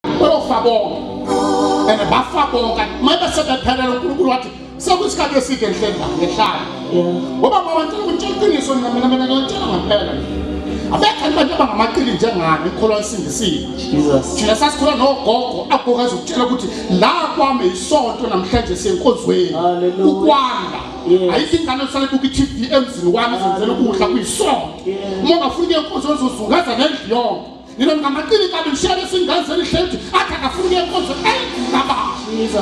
bayofa bonke and bafa bonke manje sebephelele uNkulunkulu wathi sekuyisikhathi eside ngihlenda ngehlala ngoba ngoba ngicela ukutshela iqiniso mina mina mina ngiyotshela ngampela abekho abantu abangamaqili njengani ikholwa isindisile thina sasikhola nogogo agokwazi ukutshela ukuthi la kwami yisonto namhlanje siyenkozweni ukwanda ayikho ingane osale buka i-tv emzini wami zenzela ukudla kuyisonto uma ungafuni kuye nkonzo ozozungaza nendlu yonke Nina ngamaqili kabi ngishaya isingazi elihlezi athi akafuni ukuya enkonzweni eyi ngaba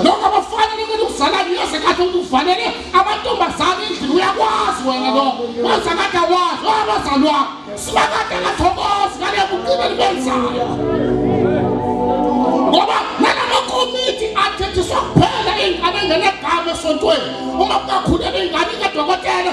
lokho abafanele ukuthi ukuzalani uyase kahle ukuthi ufanele amantombazane endlini uyakwazi wena lo wenza kade awazi owabazalwa sibakade ngathokozi ngale bucile libenzayo ngoba nalamakomiti athethiswa kuphela ingane ngenegama esontweni uma kungakhulelwa ingane kadokotela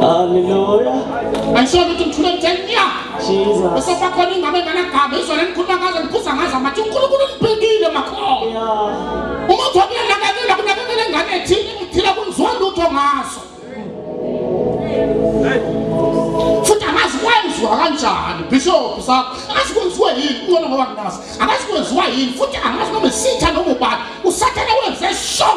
Hallelujah. Ayisho ukuthi ngithule ngithenya. Jesus. Bese bakhona ingane enganagama izona engikhuluma ngazo ngiphuza ngazo amathi uNkulunkulu ngibhekile makhona. Yeah. Uma uthi uyanakekela kunakekela ingane ethile ngithila kunzwa lutho ngazo. Futhi amazi kwenziwa kanjani bishop sakho. Akazi kwenziwa yini kungona ngoba nginazi. Akazi kwenziwa yini futhi angazi noma isitha noma ubani. Usathane wenze show.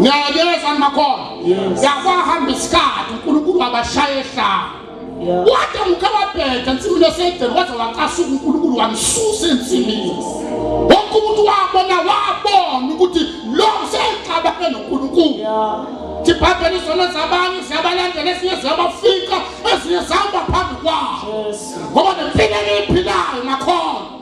ngiyayeza makona yakwahamba isikhathi unkulunkulu wabashaya ehlanga wade muke wabheda ensimini esedeni waze wacasuka unkulunkulu wamsusa ensimini wonke umuntu wabona wabona ukuthi lo seyixabane nonkulunkulu sibhabhela izono zabanye siyabalandela esinye ziyabafika ezinye zihamba phambi kwawo ngoba nempilo eliyiphilayo nakhona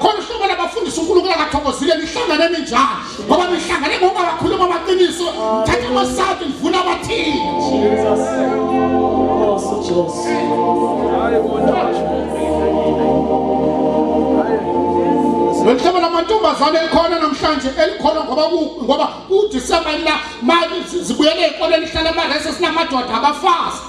khona uhlobo labafundisa unkulunkulu akathokozile nihlangane ninjani ngoba nihlangane ngokungabakhuluma amaqiniso thatha amasati nivuna abathini loluhlobo lamantombazane elikhona namhlanje elikhona ngoba ngoba udisemba la mali zibuyele ey'koleni hlala amarese sinamadoda abafazi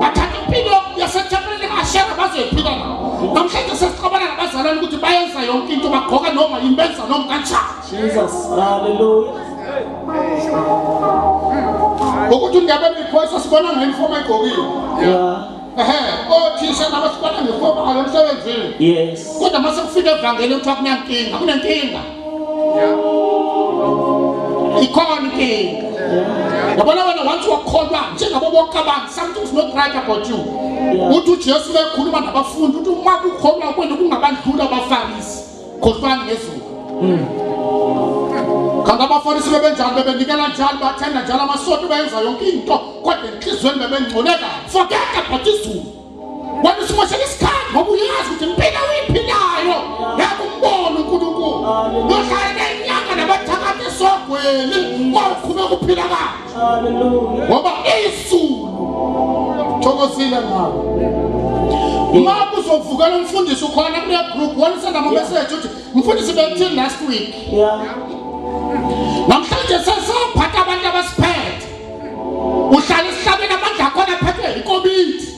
bathatha impilo yasethempelini likaashera bazoyiphila na namhlanje sesixabana nabazalwane ukuthi bayenza yonke into bagqoka noma yini benza noma kanjani ukuthi undebe mikhoyisa sibona ngayinifoma egqokile ehe othisha nabo sibona ngefoma ayo emsebenzini kodwa uma sekufika evangeli kuthiwa kunenkinga kunenkinga ikhona inkinga yabona wena once wakholwa njengabo bonke abantu something's not right about you uthi ujesu bekhuluma nabafundi uthi uma kukholwa kwenu kungabandlula abafarisi khohlwani ngezulu kanti abafarisi bebenjani bebenikela njani bathenda njalo amasoto beyenza yonke into kodwa enhliziyweni bebengcole kabi forget about izulu Wena usimoshela isikhathi ngoba uyazi ukuthi impilo oyiphilayo yakumbona uNkulunkulu. Nohlale nenyanga nabathakathi esogweli kwawuqhube kuphila kanje. Ngoba izulu thokozile ngawo. Uma kuzovukela umfundisi ukhona kule group wena senda ama message uthi mfundisi bekuthini last week. Yeah. Namhlanje sesaphatha abantu abasiphethe. uhlala esihlabeni amandla akhona aphethwe yikomiti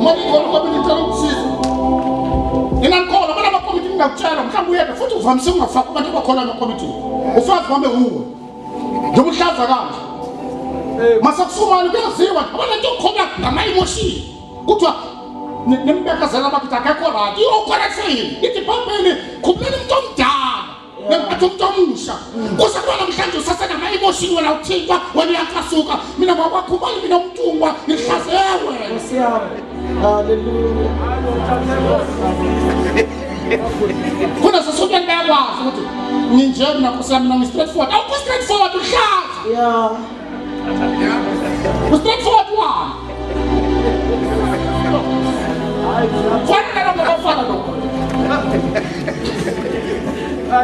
mani khona ukomiti ngicela ukusiza inangikhona abanye amakomiti ngingakutshela mhlawumbe uyebe futhi uvamise ukungafaki abantu abakhona emakomitini ufazi wame wuwe njengoba uhlaza kanje masekusumali kuyaziwa abanye nto khona ngama-emoshini kuthiwa nembekezela bakithi akekho rati iyokhona kufeyini ithi bhambeni khumuleni umntu omdala ngemphatha umuntu omusha kusekuba namhlanje usasenama-emotion wena uthintwa wena uyacasuka mina ngwakwakhumbali mina umtungwa ngihlazeya wena khona sesotweni bayakwazi ukuthi nginje mina nkosi yami mina ngi-straight forward awukho-straight forward uhlaza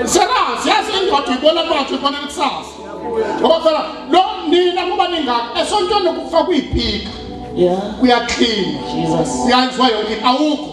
Senazi yazi indoda ibona manje ibona kusasa. Ngoba phela lo nina kuba ningaka esontweni kufa kuyiphika. Yeah. Kuyakhina. Jesus. Uyanzwa yonke awukho.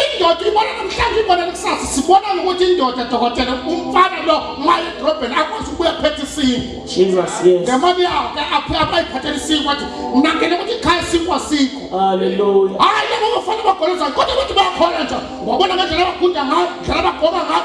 indoda ibona namhlanje ibona nakusasa sibona ukuthi indoda dokotela umfana lo maye edrobheni akwazi ukubuya phethe isingo jesus yes ngemali yawo ke aphe abayiphathela isingo wathi ngingangena ukuthi ikhaya isingo asikho haleluya hayi laba bafana bagoloza kodwa ukuthi bayakhona nje wabona ngendlela abagunda ngayo ndlela abagoma ngayo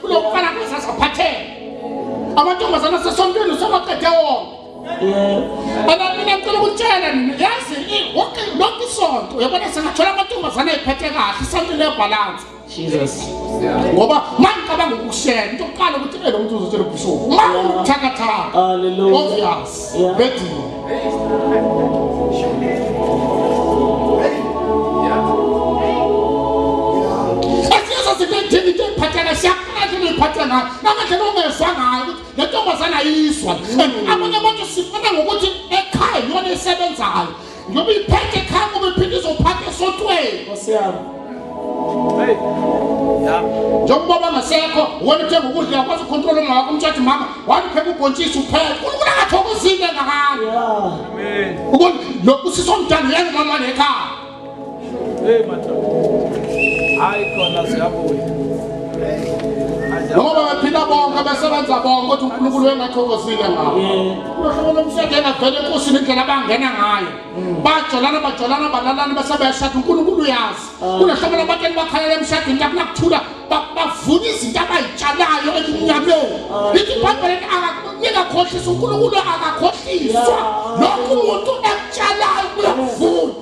kulomfana kazazi aphatheke amantombazana sesontweni usewaqede wonke aba mina ngicela ukutshela nina yazi wonke lonke isonto uyabona singathola amantombazana ayiphethe kahle isonto lebhalansi Jesus ngoba mangicabanga ukushela into kuqala ukuthi elo muntu uzotshelwa ubhishopu uma uthakathaka haleluya obvious Ubedini. Asiyazo sibedini into ephathana siyakhala into ephathana namanje nongezwa ngayo ukuthi le ntombazana ayizwa. And abanye abantu sifuna ngokuthi ekhaya yona esebenzayo. Ngoba iphathe khanga ubephinde izophatha esotweni. Nkosi yami. Hey. Yeah. Njengoba bangasekho, wena uthe ukudla yakwazi ucontrol umama wakho umthathe mama, wathi phela ubhontshisi uphela. Unkulunkulu angathokozile ngakani. Yeah. Amen. Ubona lokhu sisomdala uyenza mama lekhaya. Hey madoda. Hayi khona siyabuya. Ngoba baphila bonke abasebenza bonke ukuthi uNkulunkulu wengathokozile ngabo. Uhlobo lomseke engavele enkosini indlela abangena ngayo. Bajolana bajolana balalana bese bayashada uNkulunkulu uyazi. Kunehlobo labantu elibakhalela emshadweni lapho nakuthula bavuna izinto abayitshalayo emnyameni. Lithi iBhayibheli akakhohlisa uNkulunkulu akakhohliswa. Lokhu umuntu ekutshalayo uyakuvuna.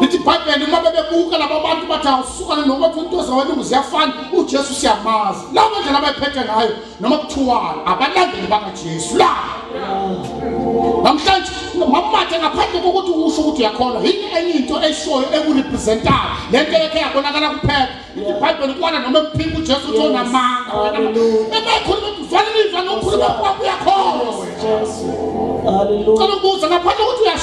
lithi ibhayibheli uma bebebuka laba bantu bathi awusukane noma kuthi into zawelungu ziyafana ujesu siyamazi lawo mandlela abayiphethe ngayo noma kuthiwani abalandeli bakajesu la namhlanje mamathe ngaphandle kokuthi usho ukuthi uyakholwa yini enye into eshoyo ekurepresentayo le nto yekhe yabonakala kuphela ibhayibheli kwana noma ekuphika ujesu uthi onamanga wena ebayikhuluma kufanele izwa nokukhuluma kwakho uyakholwa cela ukubuza ngaphandle kokuthi uyasho